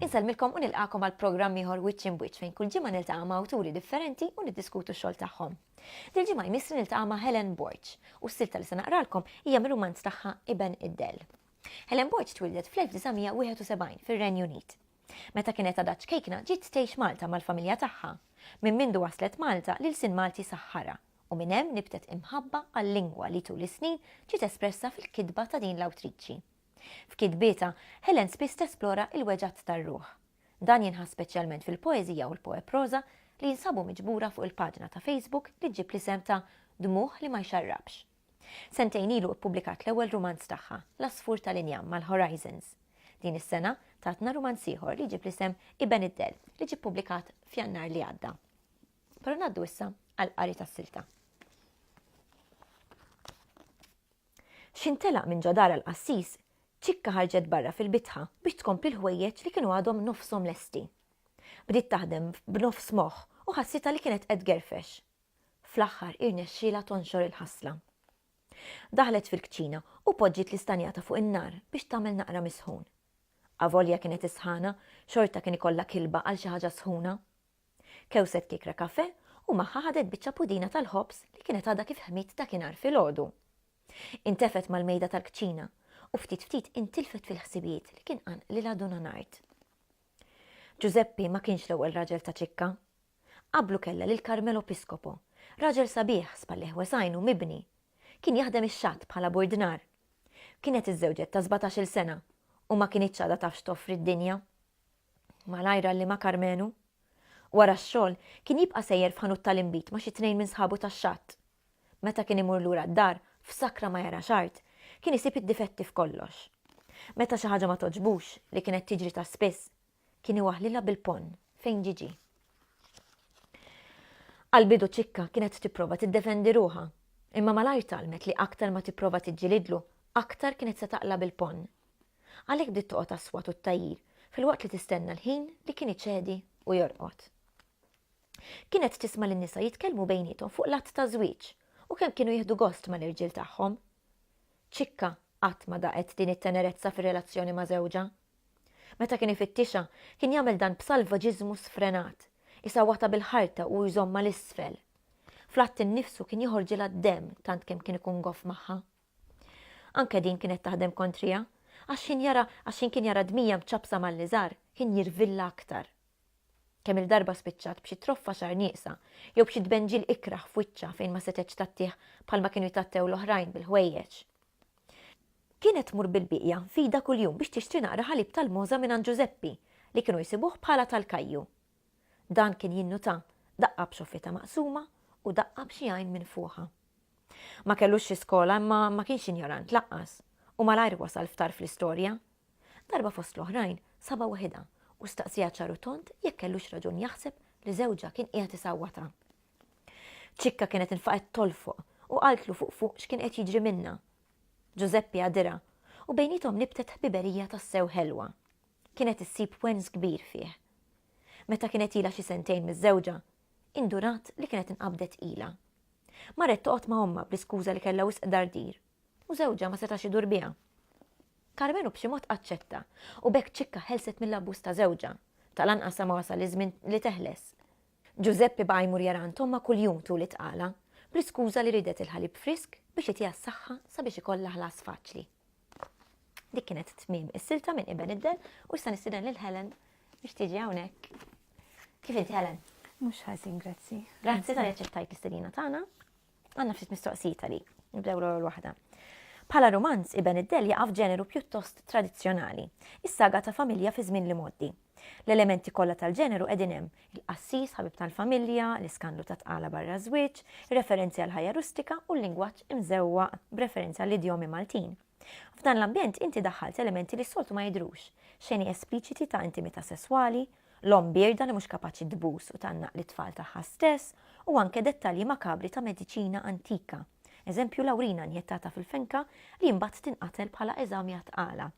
Insellmilkom u nilqakom għal programm ieħor Witch in Witch fejn kull ġimgħa niltaqa' ma' awturi differenti u niddiskutu x-xogħol tagħhom. Dil ġimgħa jmissri niltaqa' ma' Helen Borg u s-silta li se naqralkom hija mir-rumanz tagħha Iben id-Dell. Helen Borg twieldet fl-1971 fir-Renju Unit. Meta kienet għadha ċkejkna ġiet tgħix Malta mal-familja tagħha. Minn mindu waslet Malta l-ilsien Malti saħħarha u minn hemm nibtet imħabba għal-lingwa li tul is-snin ġiet espressa fil-kitba ta' din l-awtriċi. F'kitbietha, Helen spiss tesplora l-weġgħat tar-ruħ. Dan jinħass speċjalment fil-poeżija u l-poeproża li jinsabu miġbura fuq il-paġna ta' Facebook li ġġib l-isem ta' Dmugħ li ma jxarrabx. Sentejn ilu ippubblikat l-ewwel rumanz tagħha, L-Għasfur tal-Injam mal-Horizons. Din is-sena tatna rumanz ieħor li jġib l-isem Iben id-Dell li ġie ppubblikat f'Jannar li għadda. Però ngħaddu issa għall-qari tas-silta. X'intelaq minn ġodara l-qassis, ċikka ħarġet barra fil-bitħa biex tkompli l-ħwejjeġ li kienu għadhom nofshom lesti. Bdiet taħdem b'nofs moħħ u ħassitha li kienet qed gerfex. Fl-aħħar irnexxielha tonxor il-ħasla. Daħlet fil-kċina u poġġiet l-istanjata fuq in-nar biex tagħmel naqra mis-sħun. Avolja kienet is-sħana, xorta kien ikollha kilba għal xi ħaġa sħuna. Kewset kiekra kafè u magħha ħadet biċċa pudina tal-ħobż li kienet għadha kif ħmiet dakinhar filgħodu. Intefet mal-mejda tal-kċina u ftit ftit intilfet fil-ħsibijiet li kien qanqlilha Duna Nart. Ġużeppi ma kienx l-ewwel raġel ta' ċikka, Qablu kellha lil Carmelo Piscopo, raġel sabiħ, spallejh wesgħin u mibni. Kien jaħdem ix-xatt bħala burdnar. Kienet iżżewġet ta' sbatax-il sena u ma kinitx għadha taf x'toffri d-dinja. Malajr għallimha Carmenu. Wara x-xogħol, kien jibqa' sejjer f'ħanut tal-inbid ma' xi tnejn minn sħabu tax-xatt. Meta kien imur lura d-dar, f'sakra ma jara x'art, kien isib id-difetti f'kollox. Meta xi ħaġa ma togħġbux, li kienet tiġri ta' spiss, Kien iwaħħlilha bil-ponn fejn ġie ġie. Għall-bidu Ċikka kienet tipprova tiddefendi ruħha, imma malajr tgħallmet li aktar ma tipprova tiġġilidlu, aktar kienet se taqla' bil-ponn. Għalhekk bdiet toqgħod għas-swat u t-tgħajjir filwaqt li tistenna l-ħin li kien iċedi u jorqod. Kienet tisma' lin-nisa jitkellmu bejniethom fuq l-att ta' żwieġ u kemm kienu jieħdu gost mal-irġiel tagħhom. Ċikka qatt ma daqet din it-tenerezza fir-relazzjoni ma' żewġha. Meta kien ifittixha, kien jagħmel dan b'salvaġiżmu sfrenat, isawwatha bil-ħarta u jżommha 'l isfel. Fl-att innifsu kien joħorġilha d-demm tant kemm kien ikun goff magħha. Anke din kienet taħdem kontriha, għax x'ħin jara għax x'ħin kien jara d-dmija mċappsa mal-liżar, kien jirvilha aktar. Kemm-il darba spiċċat b'xi troffa xagħar nieqsa jew b'xi tbenġil ikrah f'wiċċha fejn ma setgħetx tgħattih bħalma kienu jtgħattew l-oħrajn bil-ħwejjeġ. Kienet tmur bil-bieqja f'idha kuljum biex tixtri naqra ħalib tal-mogħża mingħand Ġużeppi li kienu jsibuh bħala tal-kajju. Dan kien jinnuta, daqqa b'xoffietha maqsuma u daqqa b'xi għajn minfuħa. Ma kellux xi skola imma ma kienx injorant laqqas u malajr wasal f'tarf l-istorja Darba fost l-oħrajn sabha waħidha u staqsieha ċar u tond jekk kellux raġun jaħseb li żewġha kien qiegħed isawwatha. Ċikka kienet infaqgħet tolfoq u qaltlu fuq fuq x'kien qed jiġri minnha. Ġużeppi għadirha u bejniethom nibtet ħbiberija tassew ħelwa. Kienet issib wens kbir fih. Meta kienet ilha xi sentejn miżżewġa, indurat li kienet inqabdet ilha. Marret toqgħod ma' ommha bl-iskuża li kellha wisq dardir u żewġha ma setax idur biha. Karmenu b'xi mod aċċetta, u b'hekk Ċikka ħelset mill-abbuż ta' żewġha. Tal-anqas sa ma wasal iż-żmien li teħles. Ġużeppi baqa' jmur jara għand ommha kuljum tul it-tqala, bl-iskuża li riedet il-ħalib frisk biex itiha s-saħħa sabiex ikollha ħlas faċli. Dik kienet tmiem is-silta minn Iben id-Dell u issa nistieden lil Helen biex tiġi hawnhekk. Kif inti Helen? Mhux ħażin, grazzi. Grazzi tal-li aċċettajt l-istedina tagħna. Għandna ftit mistoqsijiet għalik, nibdew l-ewwel waħda. Bħala romanz, Iben id-Del jaqaf ġeneru pjuttost tradizzjonali, is-saga ta' familja fi żmien li moddi. L-elementi kollha tal-ġeneru qegħdin hemm, il-qassis, ħabib tal-familja, l-iskandlu ta' tqala barra żwieġ, referenzi għal ħajja rustika u l-lingwaġġ imżewwa b'referenza għall idjomi Maltin. F'dan l-ambjent inti daħħalt elementi li s-soltu ma jidrux, xeni espliċiti ta' intimità sesswali, l-omm bierda li mhux kapaċi tbus u tgħannaq lit-tfal tagħha stess, u anke dettalji makabri ta' mediċina antika, eżempju l-awrina injettata fil-fenka li mbagħad tinqatel bħala eżami għat-tqala.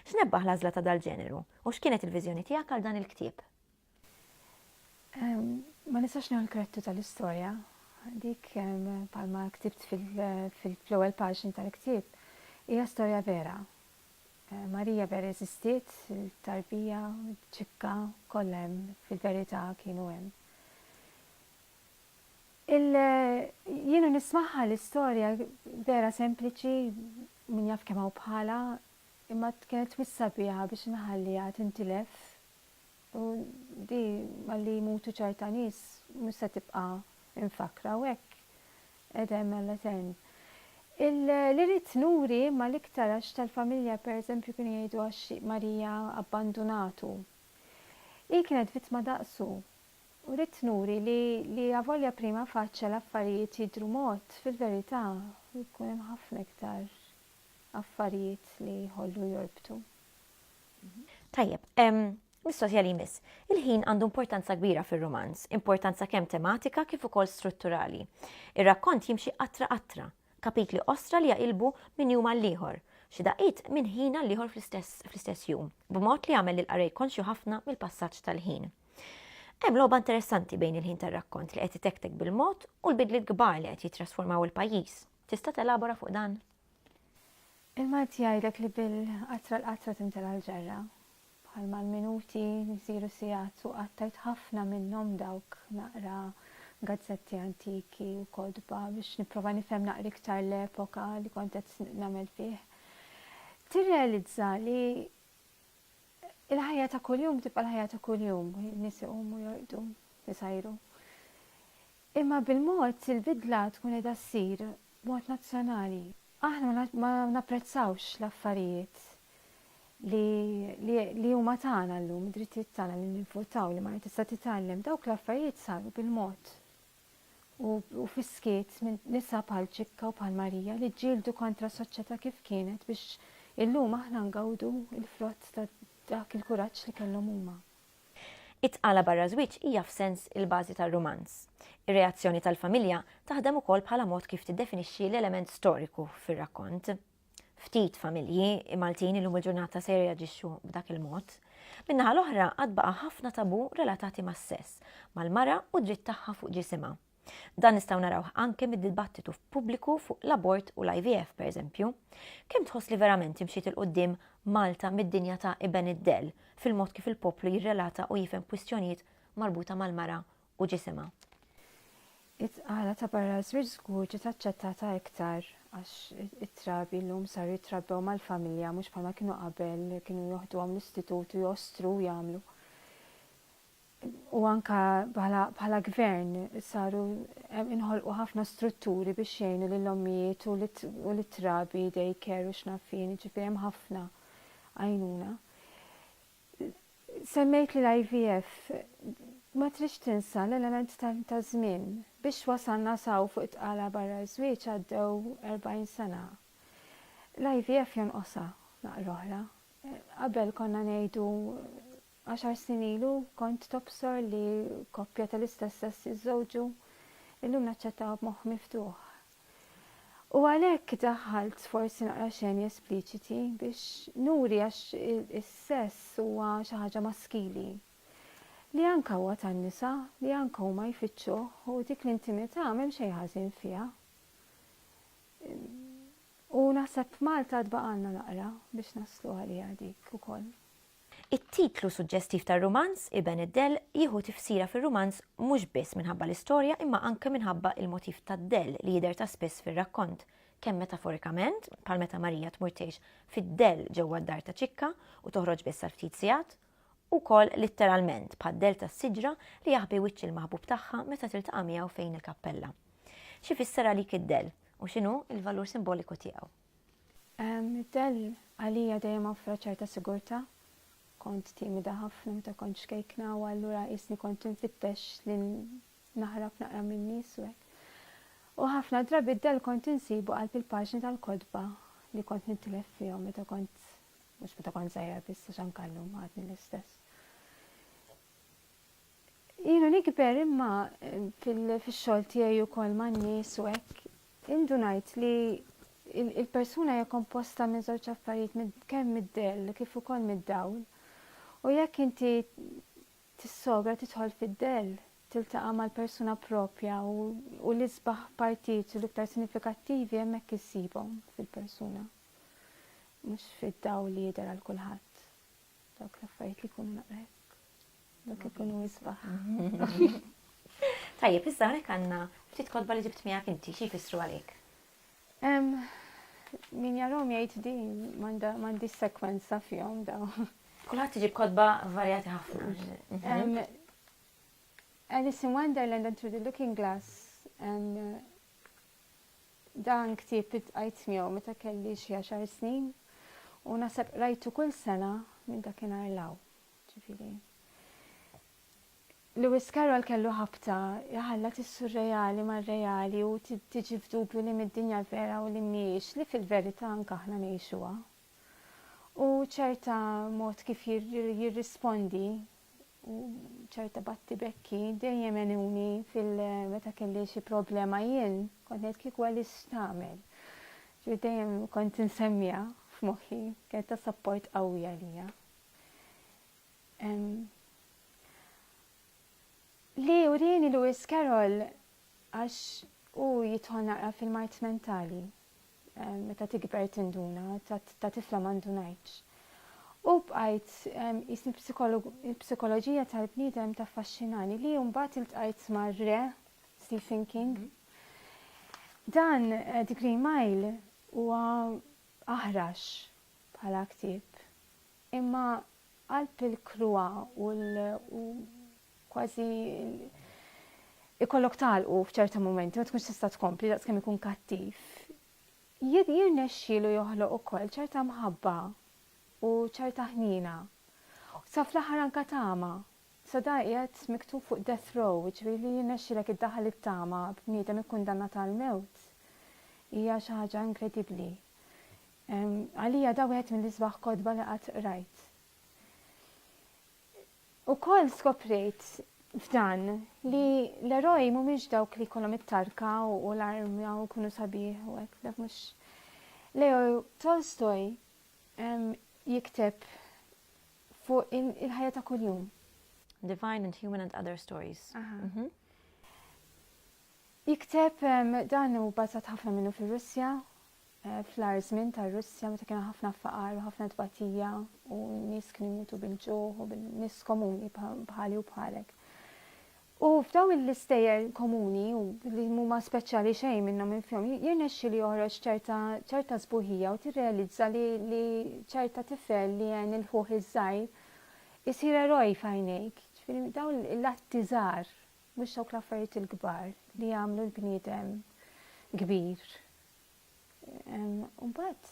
X'nebbaħ l-għażla ta' dal-ġeneru, u x'kienet il-viżjoni tiegħek għal dan il-ktieb? Ma nistax nieħu l-krettu tal-istorja, dik palma ktibt fil-ewwel paġni tal-ktieb hija storja vera. Marija b'ereżistiet il-tarbija ċikka kollha hemm fil-verità kienu hemm. Il jienu nismaħħa l-istorja vera sempliċi min jaf kemm hawn bħala imma kienet twissa biha biex nħalliha tintilef u di malli jmutu ċerta nies mhux se tibqa' infakra u hekk Qedem għall-etern. Li ridt nuri imma l-iktar għax tal-familja per eżempju kienu jgħidu għax Marija abbandunatu. Hi kienet vittma daqsu. U ridt nuri li li avolja prima facie l-affarijiet jidhru mod, fil-verità jkun hemm ħafna iktar affarijiet li jħollu jorbtu. Tajjeb. Mistoqsija li jmiss, Il-ħin għandu importanza kbira fir-rumanz, importanza kemm tematika kif ukoll strutturali. Ir-rakkont jimxi qatra qatra, kapitli qosra li jaqilbu minn jum għall-ieħor, xi daqqiet minn ħin għall-ieħor fl-istess jum, b'mod li jagħmel lill-qarrej konxju ħafna mill-passaġġ tal-ħin. Hemm logħba interessanti bejn il-ħin tar-rakkont li qed itektek bil-mod u l-bidliet kbar li qed jittrasformaw il-pajjiż. Tista' telabora fuq dan? Il-Malti jgħidlek li bil-qatra l-qatra timtela l-ġarra. Bħalma l-minuti jsiru sigħat u qattajt ħafna minnhom dawk naqra gazzetti antiki u kotba biex nipprova nifhem naqra iktar l-epoka li kont qed nagħmel fih, tirrealizza li il-ħajja ta' kuljum tibqa' l-ħajja ta' kuljum, in-nies iqumu jorqdu, isajru. Imma bil-mod il-bidla tkun qiegħda ssir b'mod nazzjonali. Aħna ma napprezzawx l-affarijiet li li huma tagħna llum, id-drittijiet tagħna li nivvutaw, li mara tista' titgħallem, dawk l-affarijiet saru bil-mod u u fis-skiet minn nisa bħal Ċikka u bħal Marija li ġġieldu kontra soċjetà kif kienet biex illum aħna ngawdu l-frott ta' dak il-kuraġġ li kellhom huma. It-tqala barra żwieġ hija f'sens il-bażi tar-rumanz. Ir-reazzjoni tal-familja taħdem ukoll bħala mod kif tiddefinixxi l-element storiku fir-rakkont. Ftit familji Maltin illum il-ġurnata se jirreaġixxu b'dak il-mod. Min-naħa l-oħra għad baqa' ħafna tabù relatati mas-sess, mal-mara u d-dritt tagħha fuq ġisimha. Dan nistgħu narawh anke mid-dibattitu f'pubbliku fuq l-abort u l-IVF pereżempju. Kemm tħoss li verament imxiet 'il quddiem Malta mid-dinja ta' Iben id-Dell fil-mod kif il-poplu jirrelata u jifhem kwistjonijiet marbuta mal-mara u ġisimha? It-tqala ta' barra ż-żwieġ żgur ġiet aċċettata iktar għax it-trabi llum saru jitrabbew mal-familja mhux bħalma kienu qabel li kienu joħduhom l-istitut u jostru u jagħmlu. u anke bħala gvern saru inħolqu ħafna strutturi biex jgħinu lill-ommijiet u lit-trabi day care u x'naf fien, ġifieri hemm ħafna għajnuna. Semmejt li l-IVF ma tridx tinsa l-element ta' żmien biex wasalna saw fuq it-tqala barra żwieġ għaddew 40 sena. L-IVF jonqosha naqra oħra. Qabel konna ngħidu Għaxar snin ilu kont tobsor li koppja tal-istess sess jiżżewġu. Illum naċċettaha b'moħħ miftuħ. U għalhekk daħħalt forsi naqra xeni espliċiti biex nuri għax is-sess huwa xi ħaġa maskili. Li anke huwa tan-nisa, li anke huma jfittxuh u dik l-intimità m'hemm xejn ħażin fiha. U naħseb Malta għad baqgħalna naqra biex naslu għaliha dik ukoll. It-titlu suġġestiv tar-rumanz, Iben id-dell, jieħu tifsira fir-rumanz mhux biss minħabba l-istorja imma anke minħabba il-motiv tad-dell li jidher ta' spiss fir-rakkont, kemm metaforikament, bħal meta Marija tmur tgħix fid-dell ġewwa d-dar ta' Ċikka u toħroġ biss għal ftit sigħat, u wkoll litteralment, bħad-dell tas-siġra li jaħbi wiċċ il-maħbub tagħha meta tiltaqa' miegħu fejn il-kappella. X'ifisser għalik id-dell, u x'inhu l-valur simboliku tiegħu? Id-dell għalija dejjem offra ċerta sigurtà. Kont timida ħafna meta kont xkejkna u allura qisni kont infittex li naħrab naqra min-nies u hekk. U ħafna drabi d-dell kont insibu qalb il-paġni tal-kotba li kont nintilef fihom meta kont mhux meta kont żgħira biss għax anke llum għadni l-istess. Ilu nikber imma fil-xogħol tiegħi wkoll man-nies u hekk indunajt li il-persuna hija komposta minn żewġ affarijiet kemm mid-dell kif ukoll mid-dawl. U jekk inti tissogra tidħol fid-dell, tiltaqa' mal-persuna propja u l-isbaħ partijiet u l-iktar sinifikattivi hemmhekk issibhom fil-persuna. Mhux fid-dawl li jidher għal kulħadd. Dawk l-affarijiet li jkunu naqrek. Dak ikunu jisbaħ. Tajjeb, issa hawnhekk għandna ftit kodba li ġibt miegħek inti, xi jfissru għalik? Min jarom jgħid di m'għandi sekwenza fihom daw. Kulħadd iġib kodba varjati ħafna. Mhm. Alice in Wonderland and Through the Looking Glass dan ktieb it-għajt miegħu meta kelli xi għaxar snin u nasab rajtu kull sena minn dakinhar law. Ġifieri, Lewis Carroll kellu ħabta jħallat is-surreali mar-reali u tiġi f'dubju li mid-dinja l-vera u li mhijiex, li fil-verità anke aħna ngħixuha. U ċerta mod kif jirrispondi u ċerta battibekki dejjem għenuni fil-meta kelli xi problema jien, kont ngħid kieku għaliex tagħmel. Ġifieri dejjem kont insemmija f'moħħi, kienet ta' sapport qawwi għalija. Li urini Lewis Carroll għax u jitħol naqra fil-mart mentali meta tikber tinduna ta' tifla mandunajċ. U bqajt jisni psikoloġija tal-bniedem ta' fascinani li jumbat il-tqajt marre Stephen King. Mhm. Dan eh, Degree Mile huwa aħrax bħala ktieb, imma qalb il-kruha u kważi ikollok tagħlqu f'ċerta mumenti, ma tkunx tista' tkompli daqskemm ikun kattiv, jirnexxielu joħloq ukoll ċerta mħabba u ċerta ħniena. Sa fl-aħħar anka tama. Sa da qiegħed miktub fuq death row, ġifieri li jirnexxilek iddaħħal it-tama b'bniedem ikkundannat għall-mewt hija xi ħaġa inkredibbli. Għalija da wieħed mill-isbaħ kotba li qatt qrajt. Ukoll skoprejt f'dan li l-eroj mhumiex dawk li jkollhom it-tarka u l-armja u jkunu sabiħ u hekk dak mhux. Leo Tolstoj jikteb fuq il-ħajja ta' kuljum. Divine and Human and Other Stories. Mhm. Jikteb dan u bazzat ħafna minnu fil-Russja fl-agħar żmien tar-Russja meta kien hemm ħafna faqar u ħafna tbatija u n-nies kienu jmutu bil-ġuħ u bin-nies komuni bħali u bħalek. U f'daw l-istejjer komuni u li huma speċjali xejn minnhom infihom jirnexxi li joħroġ ċerta ċerta sbuħija u tirrealizza li, li ċerta tifel li għen il-ħuħ iż-żgħir isir eroj f'għajnejk. Ġifieri daw l-atti żgħar mhux dawk l-affarijiet il-kbar li jagħmlu l-bniedem kbir. U mbagħad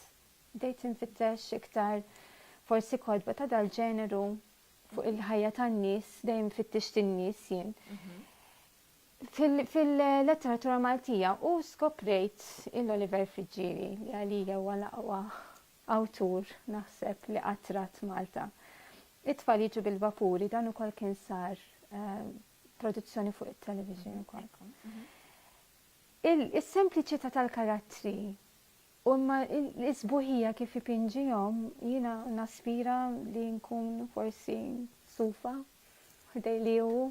bdejt infittex iktar forsi kodba ta' dal-ġeneru fuq il-ħajja tan-nies, dejjem fittex tin-nies jien. Mhm. Fil-letteratura Maltija u skoprejt il-Oliver Friġġieri li għalija huwa laqwa awtur naħseb li qattrat Malta. It-tfal jiġu bil-vapuri dan ukoll kien sar eh, produzzjoni fuq it-television ukoll. Mhm. Is-sempliċità tal-karattri u imma l-isbuħija kif ipinġihom jiena naspira li nkun forsi stufa ħdej li hu.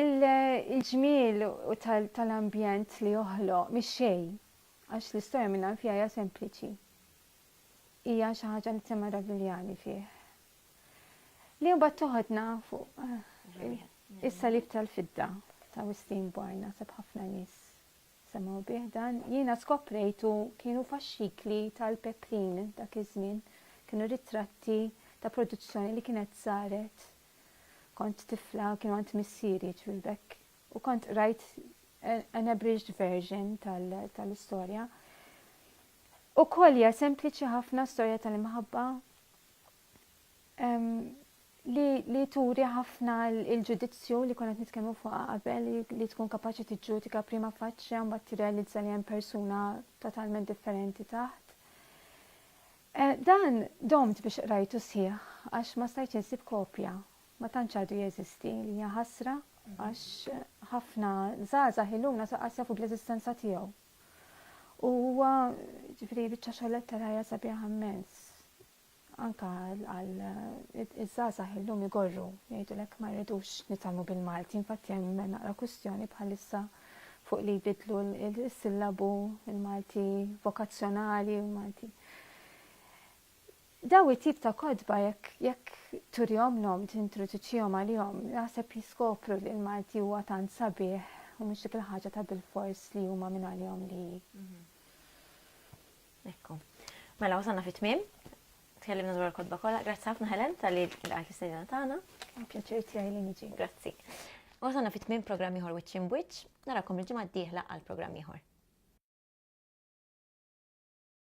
Il-ġmiel tal-ambjent li joħloq mix-xejn għax l-istorja mingħand fiha hija sempliċi. Hija xi ħaġa li tsemma' Ravigliani fih. Li mbagħad toħodna fuq is-salib tal-fidda ta' Wistin Barn naħseb ħafna nies semgħu bih dan. Jiena skoprejtu kienu faxxikli tal-peprin dak iż-żmien, kienu ritratti ta' produzzjoni li kienet saret kont tifla kienu għand missieri ġvilbek u kont rajt an abridged version tal-istorja. U kolja sempliċi ħafna storja tal-imħabba li, li turi ħafna il-ġudizzju li konet nitkellmu fuqha qabel li tkun kapaċi tiġġudika prima faċċja mbagħad tirrealizza li hemm persuna totalment differenti taħt. Eh, dan domt biex qrajtu sħiħ għax ma stajt insib kopja ma tantx għadu jeżisti li hija ħasra għax ħafna żgħażagħ illum nasaqas jafu bl-eżistenza tiegħu U huwa ġifri biċċa xogħol letterarja sabiħa immens. Anka għal iż-żgħażagħ illum igorru jgħidulek ma rridux nitalmu bil-Malti, infatti hemm naqra kwistjoni bħalissa fuq li jbidlu l-sillabu il-Malti vokazzjonali u l-Malti. Dawn it-tip ta' kotba jekk jekk turihomlhom, tintroduċihom għalihom, naħseb jiskopru li l-Malti huwa tant sabiħ u mhux dik il-ħaġa ta' bilfors li huma minn għalihom li hi. Ekku. Mela wasalna fit-tmiem. Tkellimna dwar il-kotba kollha. Grazzi ħafna Helen tal-li laqgħet l-istedina tagħna. Pjaċir tiegħi li niġi. Grazzi. Wasalna fit-tmiem programm ieħor wiċċ in wiċċ. Narakom il-ġimgħa d-dieħla għal programm ieħor.